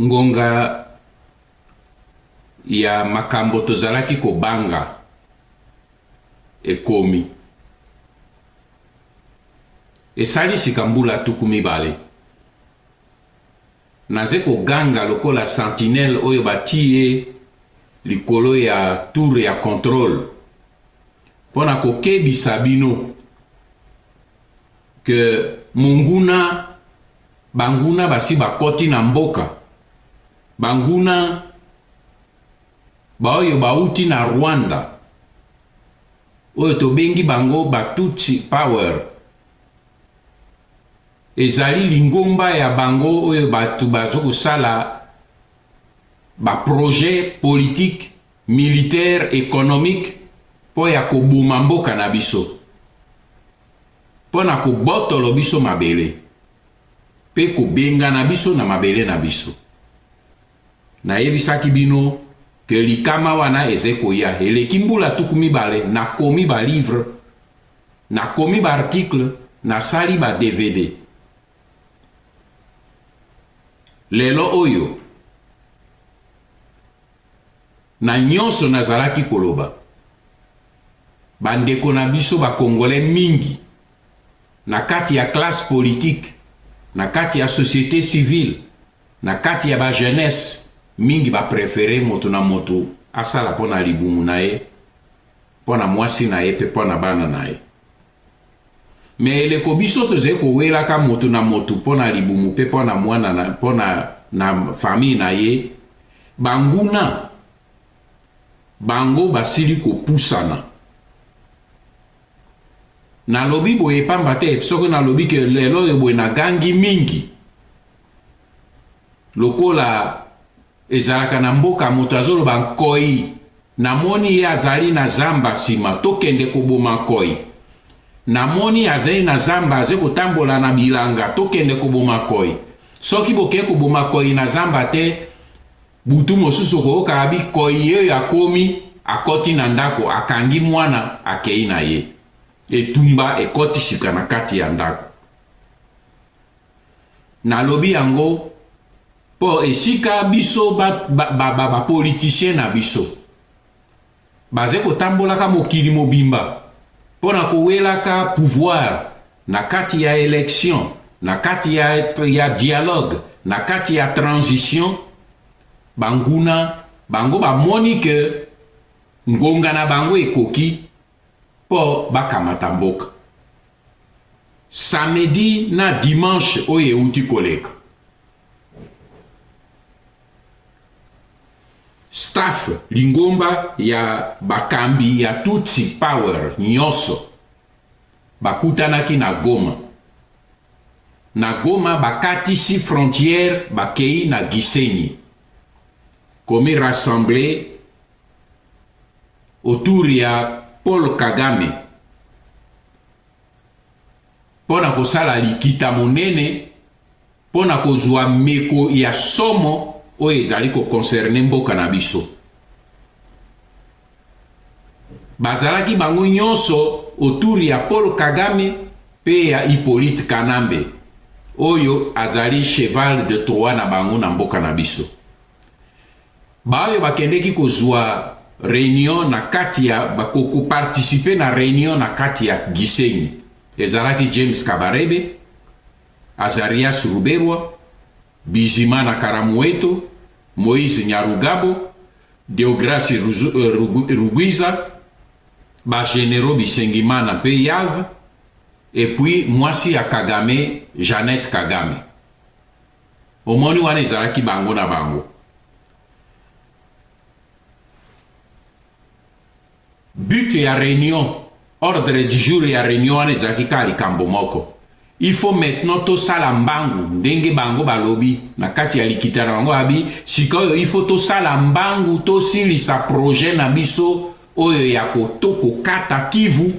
Ngonga ya makambo tozalaki kobanga ekomi. Esali sika mbula tuku mibale. Naze koganga lokola sentinelle oyo batiye likolo ya tour ya controle mpo na kokebisa bino que monguna banguna basi bakoti na mboka banguna baoyo bauti na rwanda oyo tobengi bango batutsi power ezali lingomba ya bango oyo bato baza kosala baprojet politike militaire economique mpo ya koboma mboka na biso mpo na kobotolo biso mabele mpe kobengana biso na mabele na biso nayebisaki bino ke likama wana eze koya eleki mbula tuku mibale nakomi balivre nakomi baartikle nasali ba dvd lelo oyo Na nyonso nazalaki koloba, bandeko na biso ba Congolais mingi, na kati ya classe politique, na kati ya societe civile, na kati ya ba jeunesse, mingi ba preferer moto na moto asala mpo na libumu na ye, mpo na mwasi na ye mpe mpo na bana na ye. Mais eleko biso tozali kowelaka moto na moto mpo na libumu mpe mpo na mwana na mpo na na famille na ye banguna bango basili kopusana nalobi boye pamba te soki nalobi ke lelo oyo boye nagangi mingi lokola Ezalaka na mboka moto azoloba nkoyi namoni ye azali na zamba sima tokende koboma nkoyi namoni azali na zamba aze kotambola na bilanga tokende koboma nkoyi soki bokei koboma nkoyi na zamba te butu mosusu okoyoka abi nkoyi yeyo akomi akoti na ndako akangi mwana akei na ye etumba ekoti sika na kati ya ndako nalobi yango po esika biso bapoliticien na biso baze kotambolaka mokili mobimba mpo na kowelaka pouvoir na kati ya election na kati ya, ya dialogue na kati ya transition banguna bango bamoni ke ngonga na bango ekoki po bakamata mboka. Samedi na dimanche oyo euti koleka, staff lingomba ya bakambi ya Tutsi Power nyonso bakutanaki na Goma na Goma bakatisi frontière bakei na Gisenyi komi rassembler autour ya Paul Kagame mpo na kosala likita monene mpo na kozwa meko ya somo oyo ezali kokonserne mboka na biso bazalaki bango nyonso autour ya Paul Kagame mpe ya Hippolyte Kanambe oyo azali cheval de Troie na bango na mboka na biso Baoyo bakendeki kozua reunion na kati ya ko ko participer na reunion na kati ya Gisenyi ezalaki James Kabarebe, Azarias Ruberwa, Bizimana Karamoeto, Moise Nyarugabo, Deograce Rugwiza, ba generaux Bisengimana mpe Yav, et puis mwasi ya Kagame Jeannette Kagame. Omoni wana ezalaki bango na bango. But ya reunion, ordre du jour ya reunion wana ezalaki kaka likambo moko. Il faut maintenant tosala mbangu ndenge bango balobi na kati ya likita na bango abi sikoyo il faut tosala mbangu tosilisa projet na biso oyo ya kokata kivu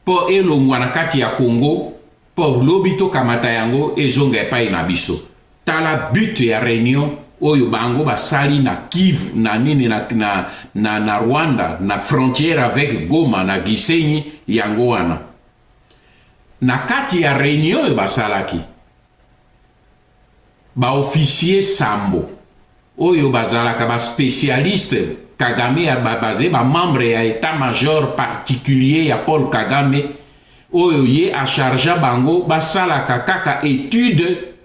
mpo elongwa na kati ya Congo, mpo lobi tokamata yango ezonga epai na biso. Tala but ya reunion oyo bango basali na Kivu na nini na, na, na, na Rwanda na frontière avec Goma na Gisenyi, yango wana na kati ya reunion oyo basalaki Ba officiers sambo oyo bazalaka ba specialistes Kagame a ba baze ba membres ya etat major particulier ya Paul Kagame oyo ye a chargea bango basalaka kaka etude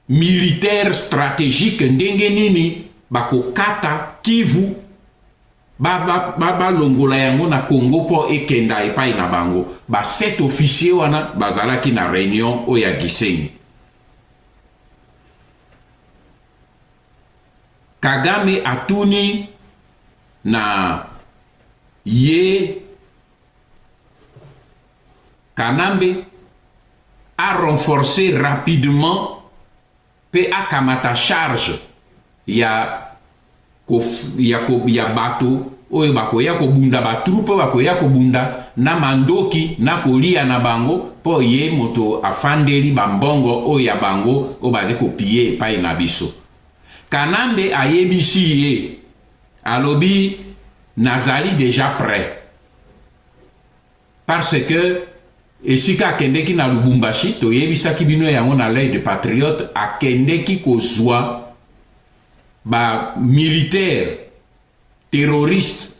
militaire strategique ndenge nini bakokata Kivu balongola yango na Congo mpo ekenda epai na bango. Ba sept officiers wana bazalaki na reunion oyo ya Gisenyi. Kagame atuni na ye Kanambe a renforcer rapidement pe akamata charge ya ko ya ko ya bato oyo bakoya kobunda ba troupe bakoya kobunda na mandoki na kolia na bango mpo ye moto afandeli bambongo oyo ya bango oyo bazali kopiye epai na biso kanambe ayebisi ye alobi nazali deja près Parce que esika akendeki na Lubumbashi, toyebisaki bino yango na l'œil de patriote, akendeki kozwa ba militaires terroristes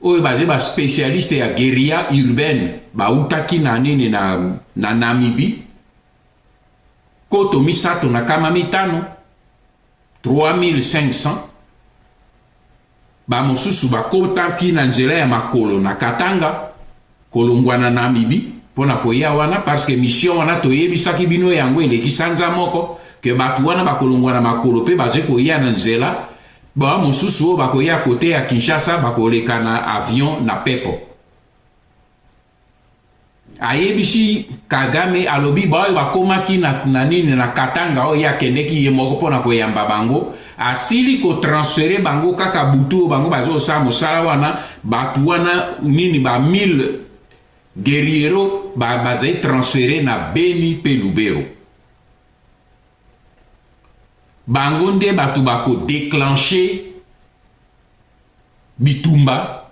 oyo baza ba spécialiste ya guerilla urbaine bautaki na nini na, na Namibie koto misato na kama mitano 3500 bamosusu bakotaki na nzela ya makolo na katanga kolongwa na namibi mpo na koya wana parce que mission wana toyebisaki bino yango eleki sanza moko ke bato wana bakolongwa na makolo mpe baze koya na nzela ba mosusu oyo bakoya kote ya kinshasa bakoleka na avion na pepo ayebisi kagame alobi baoyo bakomaki na, na nini na katanga oyo ye akendeki ye moko mpo na koyamba bango asili kotransfere bango kaka butu oyo bango bazosala mosala wana bato wana nini ba 1000 guerriero bazali transfere na beni mpe lubero bango nde bato bakodeclenche bitumba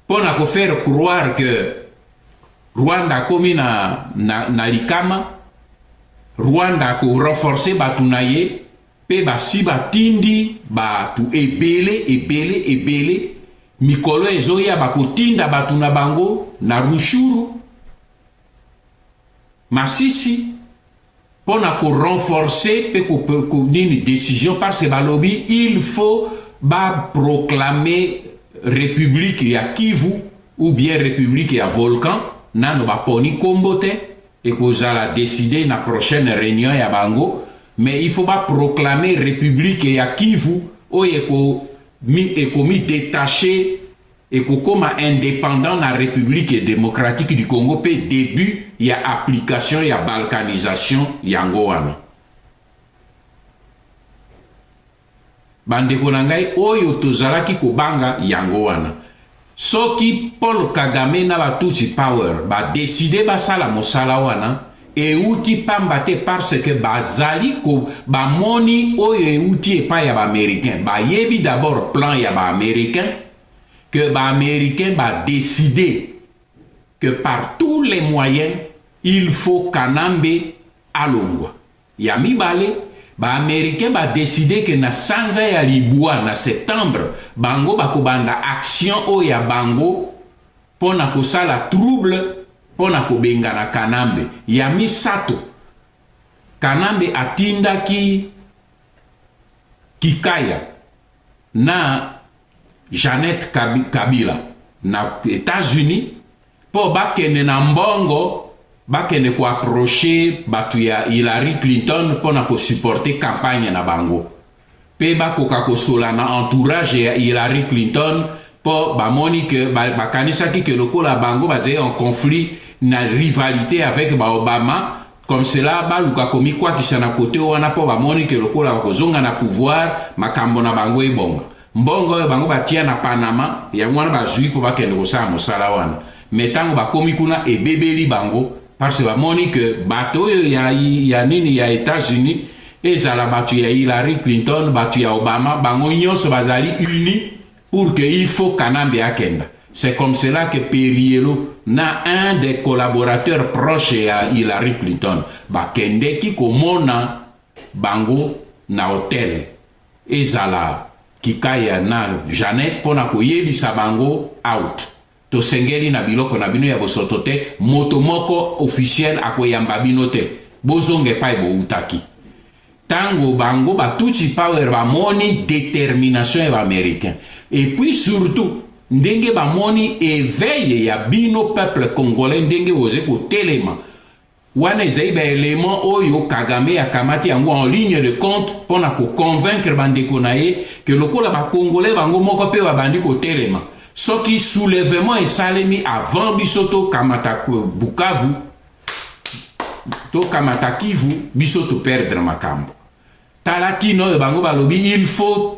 mpo na ko faire croire que Rwanda akomi na, na, na likama Rwanda ako renforce bato na ye mpe basi batindi bato ebele ebele ebele mikolo ezoya bakotinda bato na bango na rushuru masisi mpo na ko renforcer mpe ko, ko, nini decision parce que balobi il faut ba proclamer république ya Kivu ou bien république ya Volcan nano baponi nkombo te ekozala décider na prochaine réunion ya bango mais il faut ba proclamer république ya Kivu oyo ekomi détacher ekokoma independant na Republique democratique du Congo mpe debut ya application ya balkanisation yango wana. Bandeko na ngai oyo tozalaki kobanga yango wana. Soki Paul Kagame na ba Tutsi Power ba decide basala mosala wana, Euti pamba te parce que bazali ko bamoni oyo euti epai ya baamericain bayebi d'abord plan ya baamericain que baamericain badeside que par tous les moyens il faut kanambe alongwa ya mibale baamericain badeside ke na sanza ya libwa na septembre bango bakobanda action oyo ya bango mpo na kosala trouble mpo na kobengana Kanambe. Ya misato, Kanambe atindaki Kikaya na Jeannette Kabila na Etats-Unis mpo bakende na mbongo bakende koaproche bato ya Hillary Clinton mpo na kosuporte kampanye na bango. pe bakoka kosola na entourage ya Hillary Clinton po bamoni que bakanisaki que lokola bango bazali en conflit na rivalite avec ba Obama comme cela baluka komikwakisa na kote wana po bamoni que lokola bakozonga na pouvoir makambo na bango ebonga mbongo oyo bango batia na Panama yango wana bazwi po bakende kosala mosala wana me ntango bakomi kuna ebebeli bango Parce que bamoni que bato oyo ya, ya nini ya Etats-Unis ezala bato ya Hillary Clinton, bato ya Obama, bango nyonso bazali unis pour que il faut Kanambe akenda. C'est comme cela que Perielo na un des collaborateurs proches ya Hillary Clinton bakendeki komona bango na hotel ezala kikaya na Janet mpo na koyebisa bango out Tosengeli na biloko na bino ya bosoto te, moto moko officiel akoyamba bino te, bozonga epai bowutaki. Tango bango ba Tutsi Power bamoni determination ya ba Americains et puis surtout ndenge bamoni eveil ya bino peuple congolais ndenge boze kotelema, Wana ezali ba elements oyo Kagame akamati yango en ligne de compte mpo na ko convaincre bandeko na ye que lokola ba Congolais bango moko mpe babandi kotelema, soki soulevement esalemi avant biso tokamata Bukavu, tokamata Kivu, biso to perdre makambo. Tala ntina oyo bango balobi il faut.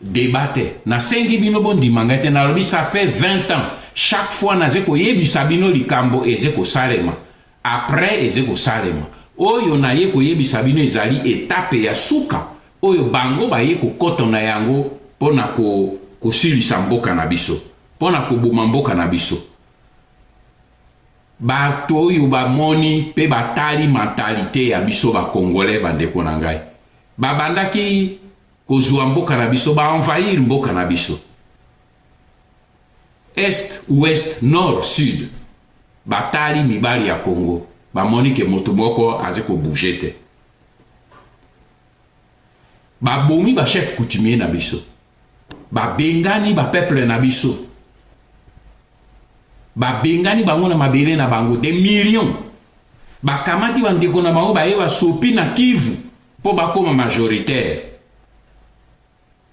debat te nasengi bino bondima ngai te nalobi ça fait 20 ans chaque fois naze koyebisa bino likambo eze kosalema après eze kosalema oyo naye koyebisa bino ezali etape ya suka oyo bango baye kokoto na yango mpo na ko, kosilisa mboka na biso mpo na koboma mboka na biso bato oyo bamoni mpe batali mentalite ya biso bakongole bandeko na ngai babandaki Kozua mboka na biso, ba envahir mboka na biso. Est, ouest, nord, sud. Batali mibali ya Congo, bamoni ke moto moko aze ko bouger te. Babomi ba chef coutumier na biso. Babengani ba peuple na biso. Babengani bango na mabele na bango des millions. Bakamati bandeko na bango baye basopi na Kivu. mpo bakoma majoritaire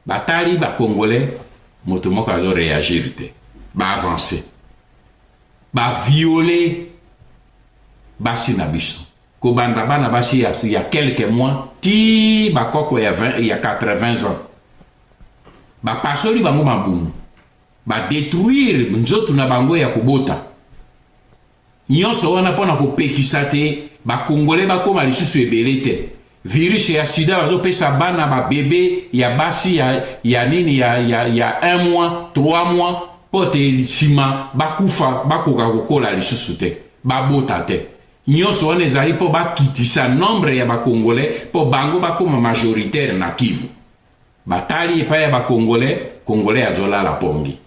batali ba congolais moto moko azo reagir te ba avancer ba violer basi na biso kobanda bana basi ya, ya quelques mois ti bakoko ya, 20, ya 80 ans bapasoli bango mabumu badetruire nzoto na bango ya kobota Nionso wana pona ko pekisa te ba congolais ba koma lisusu ebele te. Virus ya sida bazo pesa bana ba bebe ya basi ya ya nini ya ya ya 1 mois, 3 mois pote sima ba kufa ba koka ko kola lisusu te. Ba bota te. Nionso wana ezali po ba kitisa nombre ya ba congolais po bango ba koma majoritaire na Kivu. Ba tali epai ya ba congolais, congolais azo lala pongi.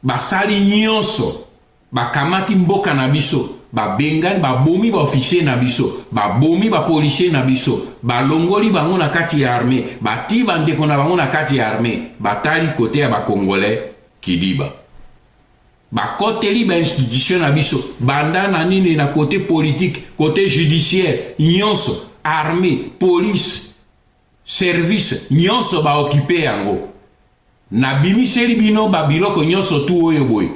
Basali nyonso bakamati mboka na biso, babengani, babomi ba officier na biso, babomi ba policier na biso, balongoli bango na kati ya armee, batii bandeko na bango na kati ya armee, batali kote ya bakongolais kidiba. bakoteli bainstitution na biso banda na nini na kote politike kote judiciaire nyonso armée police service nyonso ba occupe yango nabimiseli bino ba biloko nyonso tu oyo boye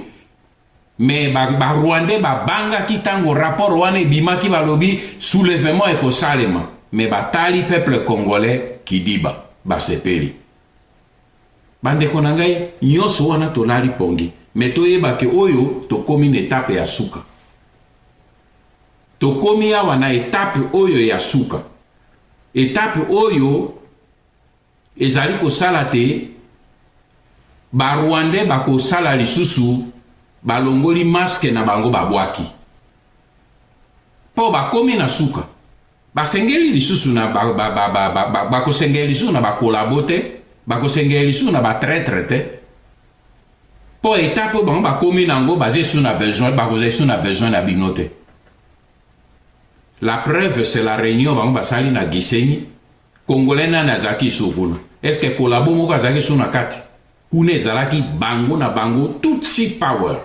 me barwandais ba babangaki ntango rapport wana ebimaki balobi soulèvement ekosalema me batali peuple congolais kidiba basepeli bandeko na ngai nyonso wana tolali pongi me toyeba ke oyo tokomi na etape ya suka Tokomi awa na etape oyo ya suka, etape oyo ezali kosala te barwandais bakosala lisusu balongoli maske na bango babwaki mpo bakomi na suka basengeli lisusu na bakosengeli lisusu na bakolabo te bakosengeli lisusu na batretre te mpo etape oyo bango bakomi na yango baza esu na besoin bakoza esu na besoin na bino te la preuve c'est la réunion bango basali na gisenyi congolais nani azalaki esu kuna est ce que kolabo moko azalaki esu na kati kuna ezalaki bango na bango tutsi power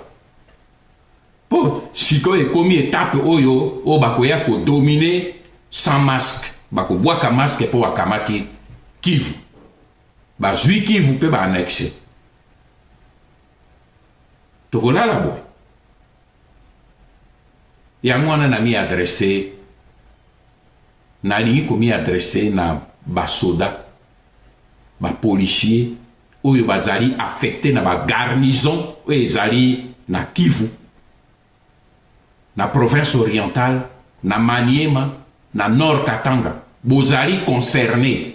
mpo sikoyo ekomi etape oyo oyo bakoya kodomine sans masque bakobwaka masque mpo bakamati kivu bazwi kivu mpe baannexe tokolala boye yango wana na mi adresse nalingi komi adresse na basoda bapolisier oyo bazali affecte na bagarnison oyo ezali na kivu na province orientale na maniema na nord katanga bozali concerne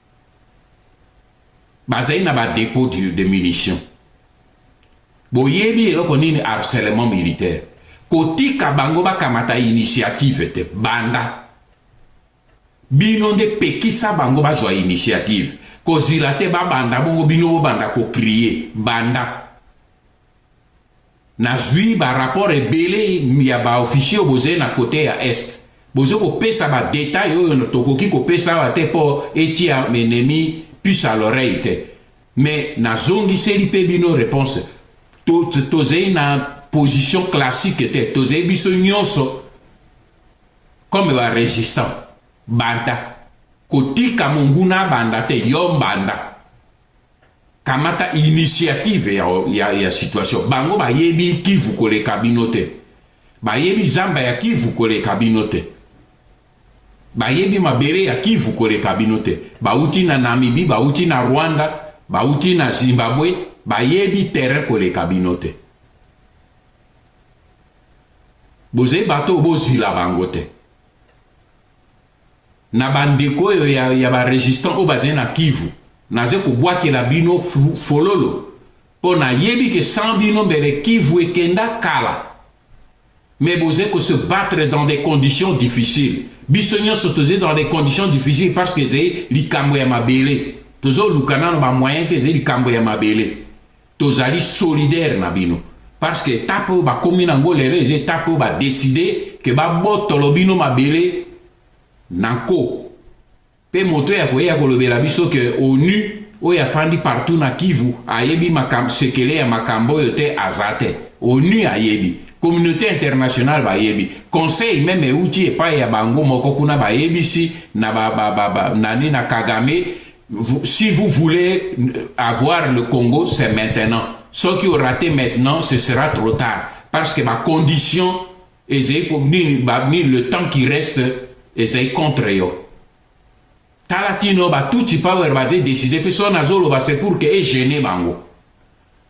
bazali na ba depot de munition boyebi eloko nini harcèlement militaire kotika bango bakamata initiative te banda bino nde pekisa bango bazwa initiative kozila te babanda bongo bino bobanda kokrie banda Nazui ba rapport ebele ya ba officier oyo bozali na cote ya est bozo kopesa ba detail oyo tokoki kopesa awa te mpo etia enemi puce à l'oreille te mais nazongiseli mpe bino reponse tozali na position classique te tozali biso nyonso comme ba resistant banda kotika monguna abanda te yo mbanda kamata initiative ya, ya, ya situation bango bayebi kivu koleka bino te bayebi zamba ya kivu koleka bino te bayebi mabele ya kivu koleka bino te bauti na namibi bauti na rwanda bauti na zimbabwe bayebi terrain koleka bino te bozali bato oyo bozila bango te na bandeko oyo ya, ya baresistant oyo bazali na kivu naza kobwakela bino fololo mpo nayebi ke sans bino mbele kivu ekenda kala mais bozali kose battre dans des conditions difficiles biso nyonso tozali dans des conditions difficiles parce que ezali likambo ya mabele tozoluka nano bamoyen te ezali likambo ya mabele tozali solidaire na bino parce que etape oyo bakomi nango lelo eza etape oyo badeside ke babotolo bino mabele na nko mpe moto ya koyeya kolobela biso ke onu oyo afandi partout na kivu ayebi makambo sekele ya makambo oyo te aza te onu ayebi communauté internationale bayebi conseil meme euti epai ya bango moko kuna bayebisi na ba, ba, ba, ba, nani na kagame si vous voulez avoir le Congo, c'est maintenant. Ce qui aura raté maintenant, ce sera trop tard. Parce que ma condition, et le temps qui reste, est contre eux. Talatino, bah, tout le power va décider, puis son azolo, bah, c'est pour que est gêné, bango.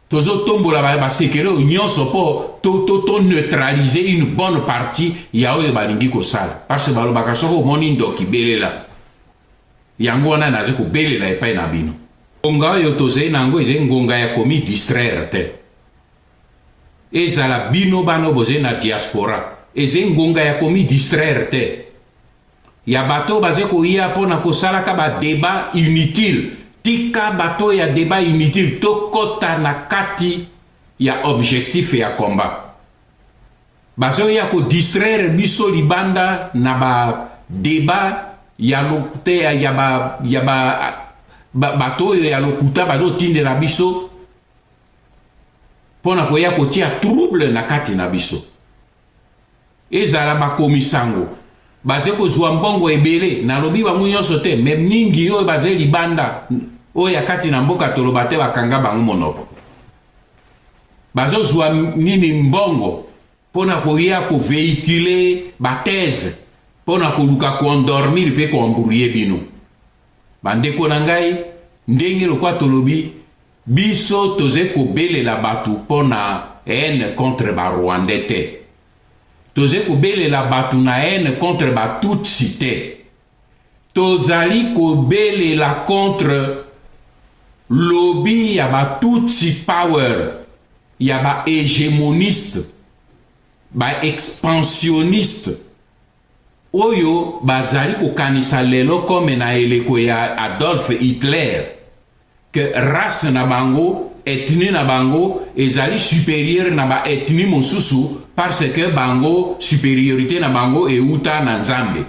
Tozo tombo la ba sekele o nyonso po to to to neutraliser une bonne partie ya oyo balingi kosala parce que balobaka soko omoni ndoki belela Yango wana naza kobelela epai na bino. Ngonga oyo tozali na yango ezali ngonga ya komi distraire te. Ezala bino bana oyo bozali na diaspora, ezali ngonga ya komi distraire te. Ya bato oyo bazali koya mpo na kosalaka badeba inutile, tika bato ya deba inutile, tokɔta na kati ya objectif ya combat. Bazo ya ko distraire biso libanda na ba debat ya lokute ya ba ya ba bato oyo ya lokuta bazo tindela biso pona koya kotia trouble na kati na biso ezala bakomi sango baze kozwa mbongo ebele nalobi bango nyonso te me mingi oyo baze libanda oyo ya kati na mboka toloba te bakanga bango monoko bazozwa nini mbongo mpo na koya kovehicule bathèse mpo na koluka koendormir mpe koembrouye bino bandeko na ngai ndenge lokwa tolobi biso toze kobelela bato mpo na haine contre barwandais te toze kobelela bato na haine contre batutsi te Tozali kobelela contre lobi ya ba tutsi power ya ba hegemoniste ba expansioniste oyo bazali kokanisa lelo comme na eleko ya Adolphe Hitler. que race na bango, ethnie na bango ezali superieur na ba ethnie mosusu parce que bango superiorite na bango euta na Nzambe.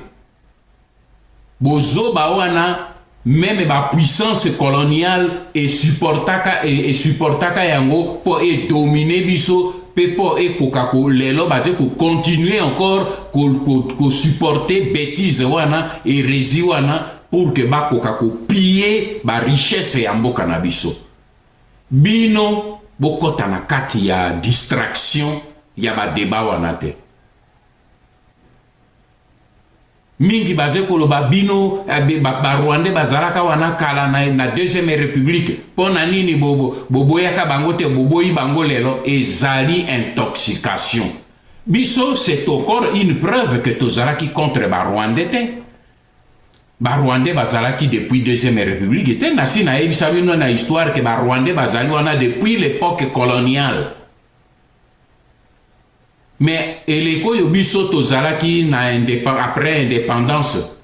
Bozoba wana meme ba puissance coloniale e supportaka e, e supportaka yango po e dominer biso pe po ekoka ko lelo baze ko continuer encore ko, ko, ko supporter bêtise wana heresi wana pour que bakoka ko piller ba richesse ya mboka na biso bino bokota na kati ya distraction ya badeba wana te mingi baze koloba bino eh, barwande ba, ba bazalaka wana kala na, na deuxième république mpo na nini boboyaka bo, bango te boboyi bango lelo ezali intoxication biso c'est encore une preuve que tozalaki contre barwande te Ba Rwandais bazalaki depuis deuxième republique te, nasi nayebisa bino na histoire que ba Rwandais bazali wana depuis l'epoque coloniale. Mais eleko oyo biso tozalaki na après indépendance,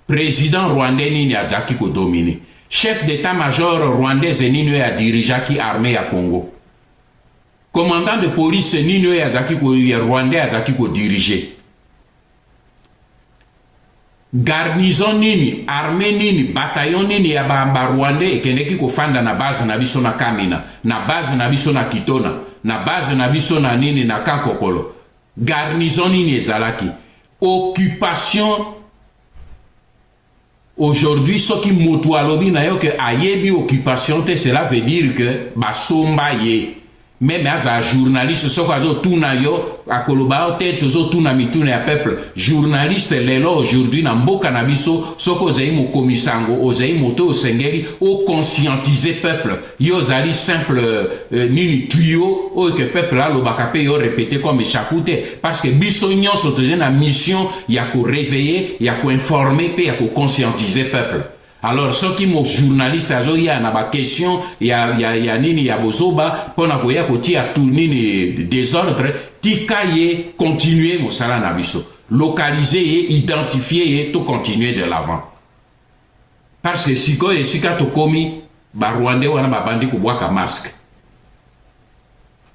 président rwandais nini azalaki kodomine? Chef d'état-major rwandaise nini oyo adirigeaki armée ya Congo? Commandant de police nini oyo azalaki ko ya rwandais azalaki kodirige? Garnison nini, armee nini, bataillon nini ya ba ba rwandais ekendeki kofanda na base na biso na Kamina, na base na biso na Kitona, na base na biso na nini na Kankokolo? Garnison nini ezalaki? Occupation Aujourd'hui soki mutu alobi na yo que ayebi occupation te cela veut dire que basomba ye meme aza journaliste soki azotuna yo akoloba yo te tozotuna mituna ya peuple journaliste lelo aujourd'hui na mboka na biso soki ozali mokomisango ozali moto oyo osengeli oconscientise peuple yo ozali simple euh, nini tuyo oyo ke peuple alobaka mpe yo repete comme chaku te parce que biso nyonso tozali na mission ya koreveille ya koinforme mpe ya koconscientise peuple alors soki mojournaliste azoya na baquestion ya, ya, ya nini ya bozoba mpo na koya kotia tu nini desordre tika ye continue mosala na biso localize ye identifie ye to continue de l'avant Parce que sikoyo esika tokomi ba Rwandais wana babandi kobwaka masque.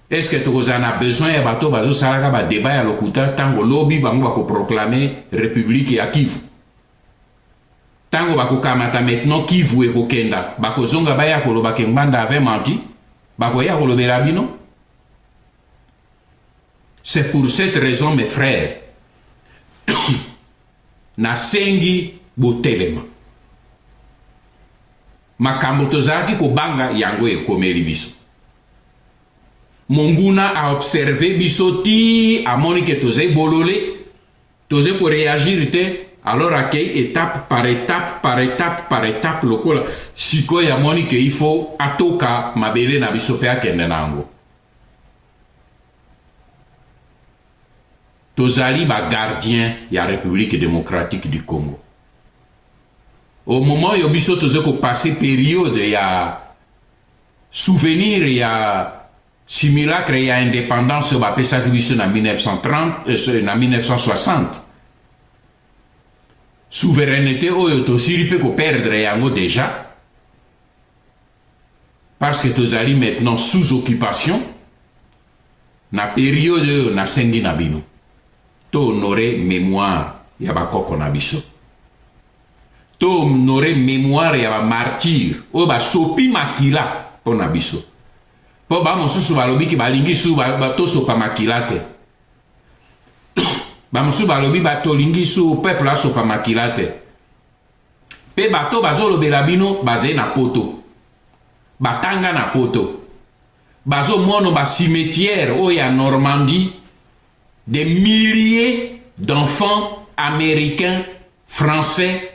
Est-ce que tokozala na besoin ya bato bazosalaka ba débat ya lokuta ntango lobi bango bakoproclame république ya Kivu? Ntango bakokamata maintenant Kivu ekokenda, bakozonga baya koloba ke Ngbanda avait menti, bakoya kolobela bino. C'est pour cette raison mes frères Nasengi botelema. Makambo tozalaki kobanga yango ekomeli biso. Monguna a observe biso ti amoni ke tozali bolole, tozali koreagir te, alors akei etape par etape par etape par etape lokola sikoyo amoni ke il faut atoka mabele na biso mpe akende na yango. tozali ba gardiens ya Republique democratique du Congo. Au moment oyo biso toza ko passer periode ya souvenir ya simulacre ya indépendance oyo bapesaki biso na 1930 euh, na 1960 souveraineté oyo tosili mpe koperdre yango deja parce que tozali maintenant sous occupation na periode oyo nasengi na bino to honore mémoire ya bakoko na biso to honore mémoire ya bamartire oyo basopi makila mpo na biso mpo bamosusu balobi ke balingi su tosopa makila te bamosusu balobi batolingi su peuple asopa makila te Pe bato bazolobela bino bazali na poto, batanga na poto, bazomono ba cimetière oyo ya Normandie, des milliers d'enfants américains, français,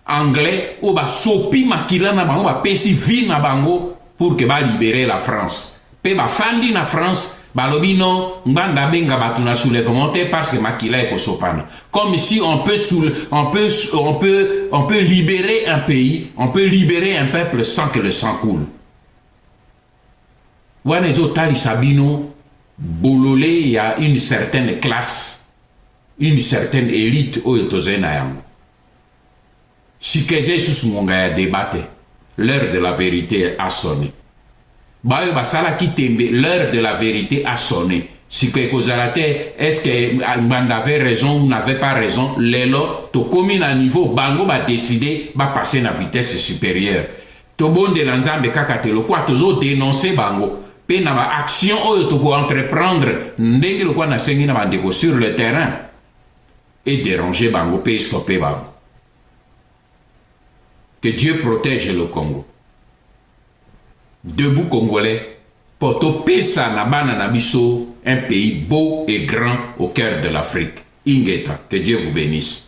anglais oyo basopi makila na bango, bapesi vie na bango pour que ba libere la France pe ba fandi na France balobi non ngbanda abenga bato na soulèvement te parce que makila ekosopana comme si on peut, soule, on, peut, on, peut, on peut libérer un pays on peut libérer un peuple sans que le sang coule wana ezotalisa bino bolole ya une certaine classe une certaine élite oyo tozali na yango Sika eza lisusu ngonga ya debat te, l'heure de la verite a sonne. Bayo basalaki tembe, l'heure de la verite a sonne. Sika ekozala te est-ce que Ngbanda avait raison ou n'avait pas raison. Lelo tokomi na niveau bango ba décider ba passer na vitesse supérieure. Tobondela Nzambe kaka te lokwa tozo dénoncer bango pe na ba action oyo toko entreprendre ndenge lokwa nasengi na bandeko sur le terrain. e deranger bango pe e stopper bango. Que Dieu protège le Congo. Debout Congolais, pour topesa na bana na biso un pays beau et grand au cœur de l'Afrique. Ingeta, que Dieu vous bénisse.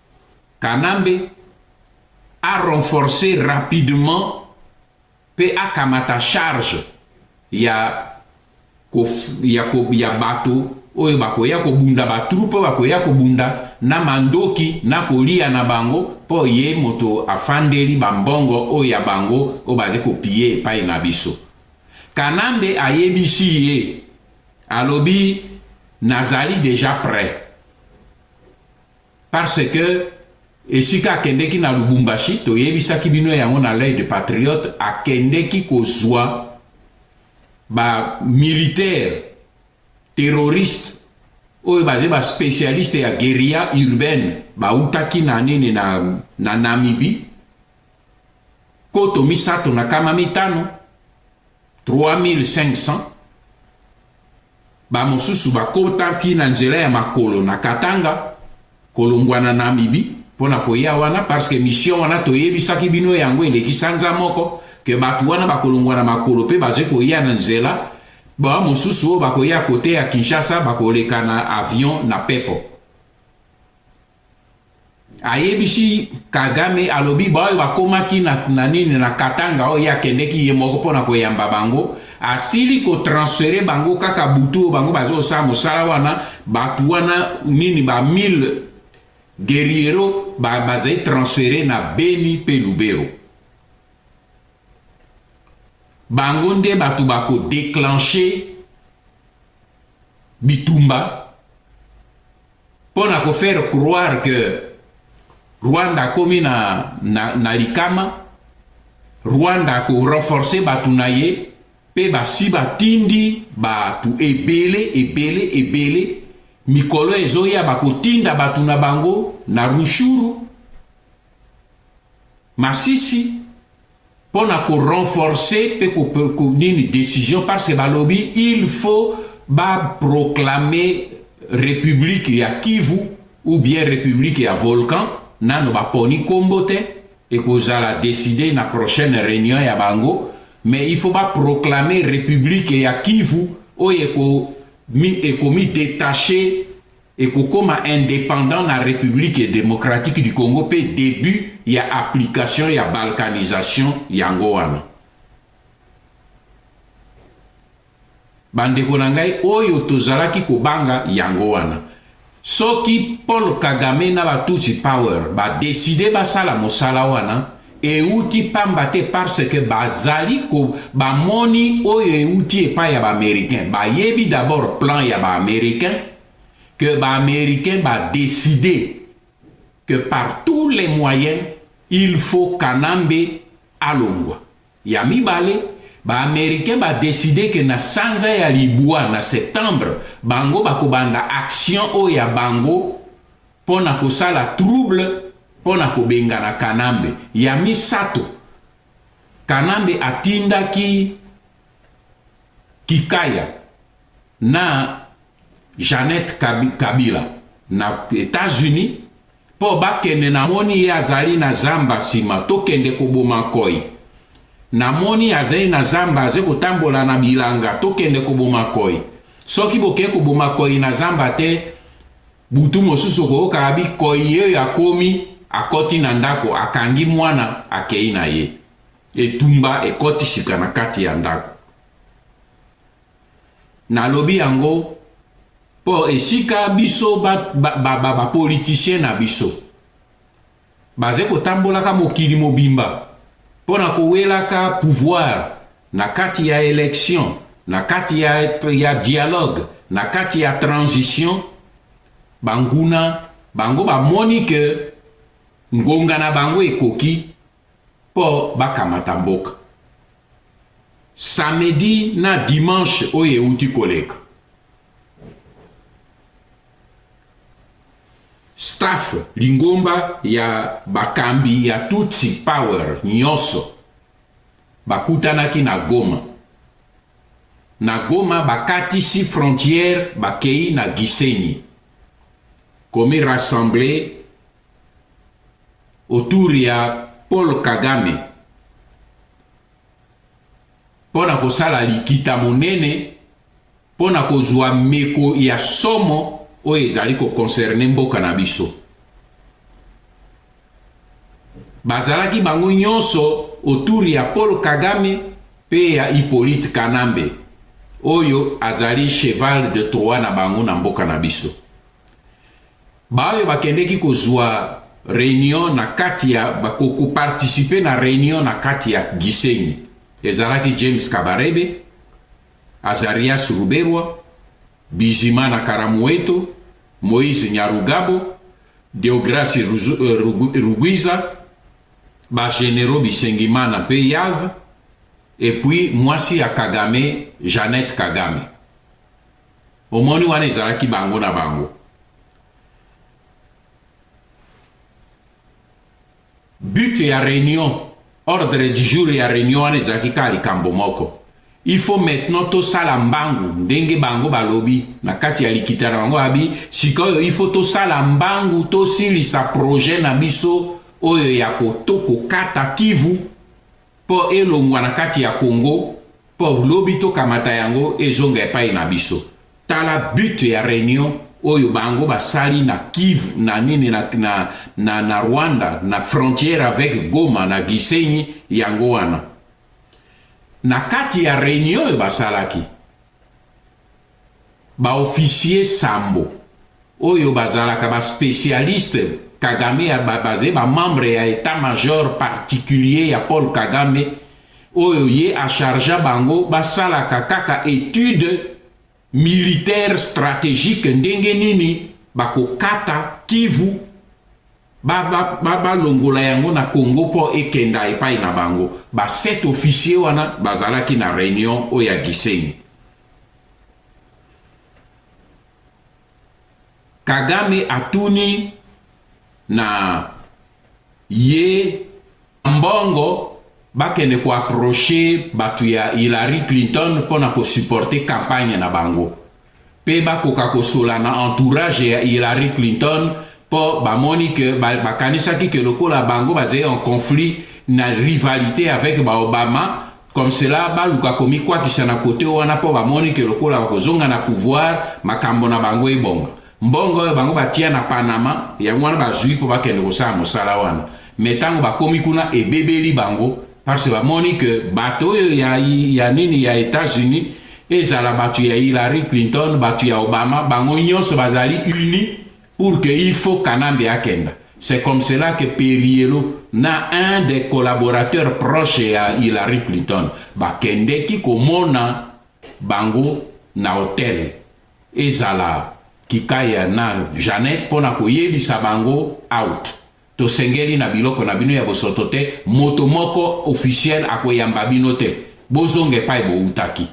Kanambe a renforcer rapidement pe akamata charge ya ko, ya, ko, ya bato oyo bakoya kobunda batrupe oyo bakoya kobunda na mandoki na kolia na bango mpo ye moto afandeli bambongo oyo ya bango oyo bazali kopiye epai na biso kanambe ayebisi ye alobi nazali deja prêt Parce que esika akendeki na Lubumbashi, toyebisaki bino yango na l'œil de patriote, akendeki kozwa ba militaires terroristes oyo baza ba spécialiste ya guerilla urbaine bautaki na nini na, na Namibie koto misato na kama mitano 3500 Bamosusu bakotaki na nzela ya makolo na Katanga, kolongwa na Namibie mpo na koya wana parce que mission wana toyebisaki bino yango eleki sanza moko que bato wana bakolongwa na makolo mpe bazali koya na nzela ba mosusu oyo bakoya kote ya Kinshasa bakoleka na avion na pepo. ayebisi kagame alobi baoyo bakomaki na, na nini na katanga oyo ye akendeki ye moko mpo na koyamba bango asili kotransfere bango kaka butu oyo bango bazosala mosala wana bato wana nini ba 1000 guerriero bazali ba transfere na beni mpe lubero bango nde bato bakodeclenche bitumba Mpo na ko faire croire que Rwanda akomi na, na, na likama, Rwanda ako renforcer bato na ye mpe basi batindi bato ebele ebele ebele mikolo ezoya bakotinda bato na bango na rushuru masisi mpo na ko renforcer mpe ko, ko nini decision parce que balobi il faut ba proclamer republique ya Kivu ou bien republique ya volcan nano baponi nkombo te ekozala decide na prochaine réunion ya bango mais il faut ba proclamer republique ya Kivu oyo ekomi détacher ekokoma independant na Republique democratique du Congo mpe debut ya application ya balkanisation yango wana. Bandeko na ngai oyo tozalaki kobanga yango wana. Soki Paul Kagame na ba Tutsi Power ba decider basala mosala wana, Euti pamba te parce que bazali ko bamoni oyo euti epai ya baamericain bayebi d'abord plan ya baamericain que baamericain badeside que par tous les moyens il faut kanambe alongwa ya mibale baamericain badeside ke na sanza ya libwa na septembre bango bakobanda action oyo ya bango mpo na kosala trouble mpo na kobengana Kanambe. Ya misato, Kanambe atindaki Kikaya na Jeannette Kabila na Etats-Unis mpo bakende. Namoni ye azali na zamba nsima, tokende koboma koi. Namoni azali na zamba, azali kotambola na bilanga, tokende koboma koi. Soki bokei koboma koi na zamba te, Butu mosusu okoyoka abi koyeyo akomi akoti na ndako akangi mwana akei na ye etumba ekoti sika na kati ya ndako nalobi yango mpo esika biso bapolitisien ba, ba, ba na biso Baze kotambolaka mokili mobimba mpo na kowelaka pouvoir na kati ya election, na kati ya, ya dialogue, na kati ya transition. Banguna bango bamoni ke ngonga na bango ekoki mpo bakamata mboka. Samedi na dimanche oyo euti koleka staff lingomba ya bakambi ya tutsi power nyonso bakutanaki na goma na goma bakatisi frontière bakei na gisenyi komi rassembler autour ya paul kagame mpo na kosala likita monene mpo na kozwa meko ya somo oyo ezali kokonserne mboka na biso. Bazalaki bango nyonso autour ya Paul Kagame mpe ya Hippolyte Kanambe oyo azali cheval de Troie na bango na mboka na biso. Baoyo bakendeki kozwa reunion na kati ya koparticipe na reunion na kati ya Gisenyi ezalaki James Kabarebe Azarias Ruberwa, Bizimana Karamoeto, Moise Nyarugabo, Deograce Rugwiza, ba generaux Bisengimana mpe Yav, et puis mwasi ya Kagame, Jeannette Kagame. Omoni wana ezalaki bango na bango. But ya reunion, ordre du jour ya reunion wana ezalaki kaka likambo moko. Il faut maintenant tosala mbangu ndenge bango balobi na kati ya likita na bango abi sikoyo il faut tosala mbangu tosilisa projet na biso oyo ya koto kokata kivu Po elongwa na kati ya Congo po lobi to kamata yango ezonga epai na biso. Tala but ya reunion oyo bango basali na Kivu na nini na, na, na, na Rwanda na frontière avec Goma na Gisenyi yango wana. Na kati ya reunion oyo basalaki Ba officiers sambo oyo bazalaka ba specialistes Kagame ya ba baze ba membres ya etat major particulier ya Paul Kagame oyo ye a chargea bango basalaka kaka etude militaire strategique ndenge nini bakokata Kivu Ba, ba, ba, balongola yango na Congo mpo ekenda epai na bango. Ba sept officiers wana bazalaki na reunion oyo ya Gisenyi. Kagame atuni na ye mbongo bakende ko approcher bato ya Hillary Clinton mpo na kosupporte campagne na bango mpe bakoka kosola na entourage ya Hillary Clinton mpo bamoni ke bakanisaki ke lokola bango bazali en conflit na rivalite avec ba Obama comme cela baluka komikwakisa na kote wana mpo bamoni ke lokola bakozonga na pouvoir makambo na bango ebonga Mbongo oyo bango batia na Panama, yango wana bazui mpo bakende kosala mosala wana. Me ntango bakomi kuna, ebebeli bango parce bamoni ke bato oyo ya, ya nini ya Etats-Unis ezala bato ya Hillary Clinton, bato ya Obama, bango nyonso bazali uni pour que il faut Kanambe akenda. C'est comme cela que Perielo na un des collaborateurs proches ya Hillary Clinton bakendeki komona bango na hotel ezala kikaya na Jeanette mpo na koyebisa bango out. Tosengeli na biloko na bino ya bosoto te, moto moko officiel akoyamba bino te, bozonga epai boutaki.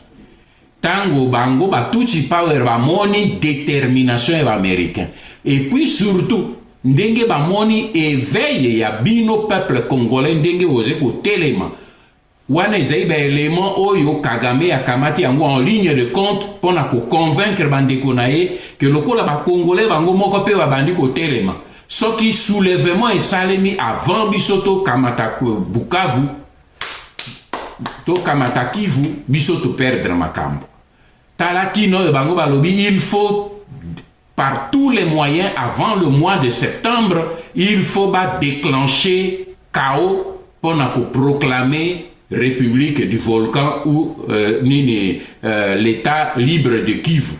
Tango bango ba Tutsi Power bamoni determination ya ba Americain et puis surtout ndenge bamoni eveil ya bino peuple congolais ndenge boze kotelema Wana ezali ba element oyo Kagame akamati yango en ligne de compte mpo na ko convaincre bandeko na ye ke lokola ba congolais bango moko mpe babandi kotelema soki soulevement esalemi avant biso tokamata Bukavu tokamata Kivu biso to perdre makambo tala tina oyo bango balobi il faut par tous les moyens avant le mois de septembre il faut ba declencher chaos pour na ko proclamer république du volcan ou euh, nini euh, l'état libre de Kivu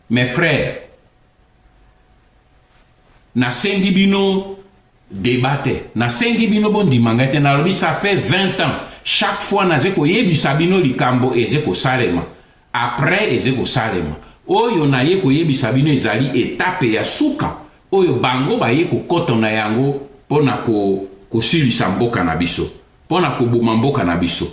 mes frères nasengi bino deba te nasengi bino bondima ngai te nalobi ça fait 20 ans chaque fois naze koyebisa bino likambo eze kosalema Après eze kosalema. Oyo naye koyebisa bino ezali etape ya suka oyo bango baye kokoto na yango mpo na ko kosilisa mboka na biso, mpo na koboma mboka na biso.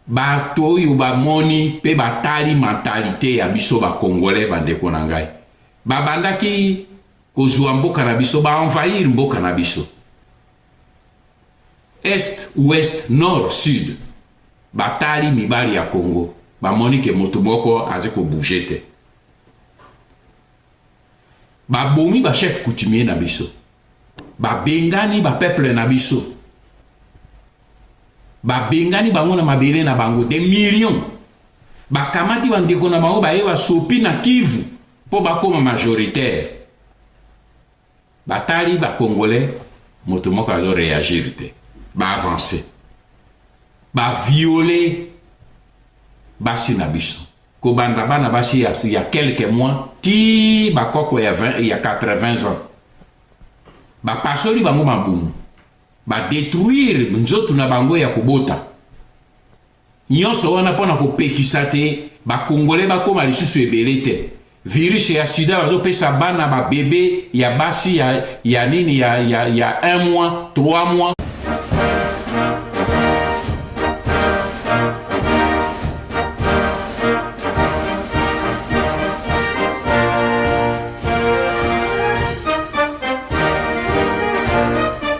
Bato oyo bamoni mpe batali mentalite ya biso ba Congolais bandeko na ngai. Babandaki kozua mboka na biso, ba envahir mboka na biso. Est, ouest, nord, sud. Batali mibali ya Congo. Bamoni ke moto moko aze ko bouger te. Babomi ba chef coutumier na biso. Babengani ba peuple na biso. Babengani bango na mabele na bango. Des millions. Bakamati bandeko na bango baye basopi na Kivu mpo bakoma majoritaire. Batali ba congolais moto moko azo reagir te ba avancer ba violer basi na biso kobanda bana basi ya, ya quelques mois ti bakoko ya, 20, ya 80 ans bapasoli bango mabumu badetruire nzoto na bango ya kobota Nionso wana pona ko pekisa te ba congolais ba koma lisusu ebele te. Virus ya sida bazo pesa bana ba bebe ya basi ya ya nini ya ya ya 1 mois, 3 mois.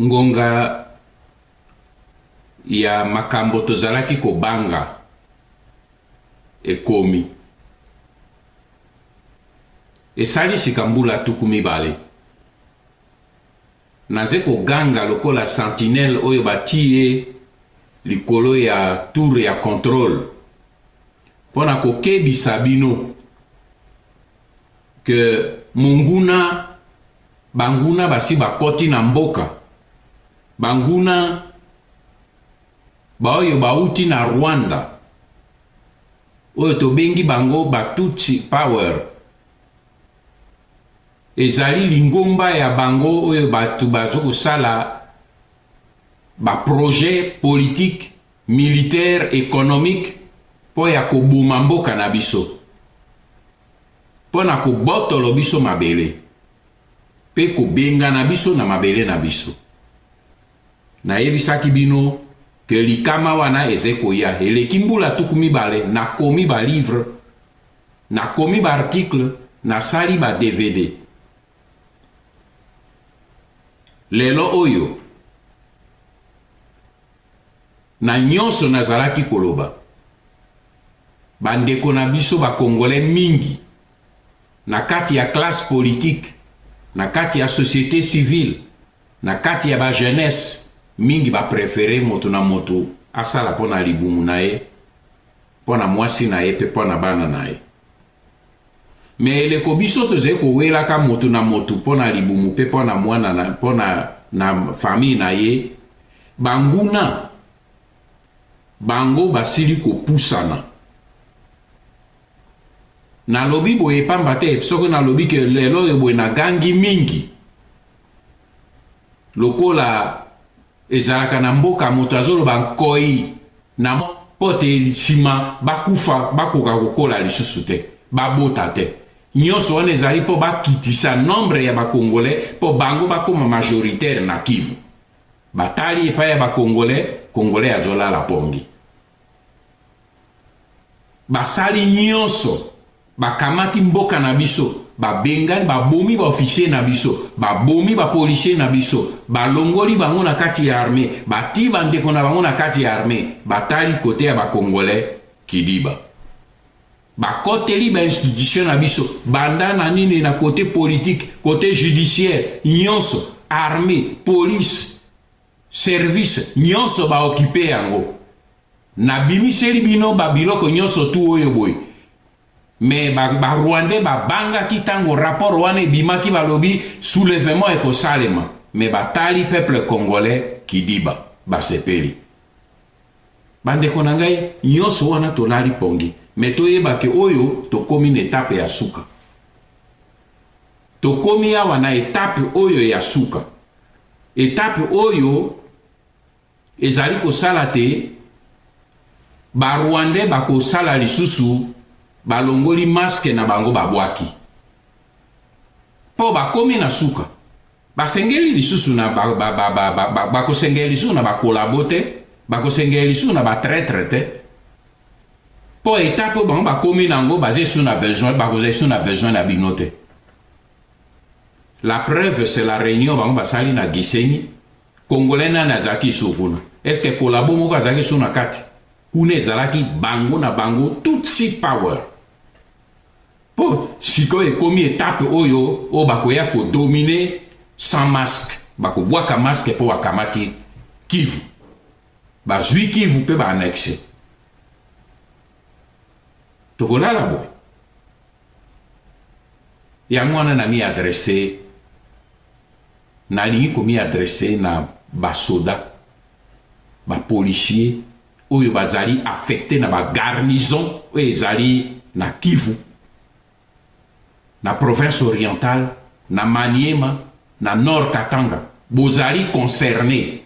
Ngonga ya makambo tozalaki kobanga ekomi. Esali sika mbula tuku mibale naze koganga lokola sentinelle oyo batii ye likolo ya tour ya controle mpo na kokebisa bino que monguna banguna basi bakoti na mboka banguna baoyo bauti na rwanda oyo tobengi bango batutsi power ezali lingomba ya bango oyo bato bazo kosala baprojet politique militaire économique mpo ya koboma mboka na biso mpo na kobotolo biso mabele mpe kobengana biso na mabele na biso. Nayebisaki bino ke likama wana eze koya. Eleki mbula tuku mibale nakomi ba livre, nakomi ba article, nasali ba DVD. Lelo oyo Na nyonso nazalaki koloba, bandeko na biso ba Congolais mingi, na kati ya classe politique, na kati ya societe civile, na kati ya ba jeunesses, mingi ba preferer moto na moto asala mpo na libumu na ye, mpo na mwasi na ye mpe mpo na bana na ye. me eleko biso tozali kowelaka moto na moto mpo na libumu mpe mpo na mwana mpo na, na famille na ye banguna bango basili kopusana nalobi boye pamba te soki nalobi ke lelo oyo boye nagangi mingi lokola Ezalaka na mboka moto azoloba nkoi na mpo te nsima bakufa bakoka kokola lisusu te, babota te. Nyonso wana ezali mpo bakitisa nombre ya bakongole mpo bango bakoma majoritaire na Kivu. Batali epai ya bakongole, kongole azolala pongi. basali nyonso bakamati mboka na biso babengani babomi baofficier na biso babomi bapolisier na biso balongoli bango na kati ya arme batii bandeko na bango na kati ya arme batali kote ya bakongole kidiba bakoteli bainstitution na biso banda na nini na kote politike kote judiciaire nyonso arme polise service nionso ba occupe yango na bimiseli bino ba biloko nionso tu oyo boye mais ba, ba rwandais babangaki ntango rapport wana ebimaki balobi soulèvement ekosalema mais batali peuple congolais kidiba basepeli bandeko na ngai nyonso wana tolali pongi me toyeba ke oyo tokomi na etape ya suka tokomi awa na etape oyo ya suka Etape oyo ezali kosala te ba rwandais bakosala lisusu balongoli maske na bango babwaki mpo bakomi na suka basengeli lisusu na bakosengela lisusu na bakolabo te bakosengela lisusu na batretre te mpo etape oyo bango bakomi na yango baza esu na besoin bakoza esu na besoin na bino te La preuve c'est la réunion bango basali na Gisenyi. Congolais nani azalaki su kuna? Est-ce que collabo moko azalaki su na kati? Kuna ezalaki bango na bango Tutsi power. Po sikoyo ekomi etape oyo oyo bakoya kodomine sans masque, bakobwaka masque mpo bakamati Kivu, bazwi Kivu mpe baannexe tokolala boye yango wana na mi adresse nalingi komi adresse na basoda bapolisier oyo bazali affecte na bagarnison oyo ezali na kivu na province orientale na maniema na nord katanga bozali concerne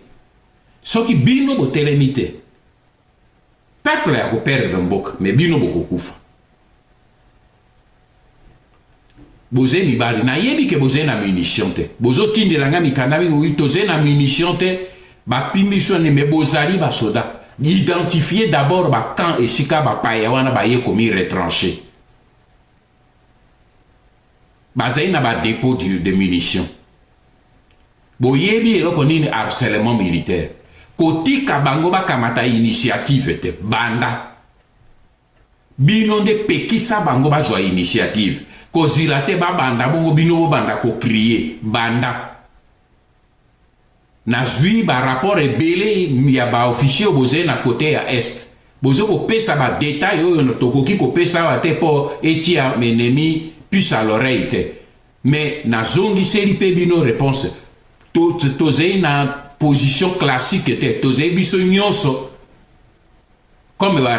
soki bino botelemi te Peuple ako perdre mboka mais bino bokokufa. boze mibali nayebi ke boze na munition te bozotindela ngai mikanda mingi oyi toze na munition te bapimi biso nde me bozali basoda identifie d'abord bacamp esika bapaya wana baye komi retranche bazali na ba depot de munition boyebi eloko nini harcèlement militaire kotika bango bakamata initiative te banda bino nde pekisa bango bazwa initiative kozila te babanda bongo bino bobanda kokrie banda nazwi ba rapport ebele ya ba officier bozali na kote ya est bozo kopesa ba detail oyo tokoki kopesa awa te mpo etia enemi puce à l'oreille te mais nazongiseli mpe bino réponse tozali na position classique te tozali biso nyonso comme ba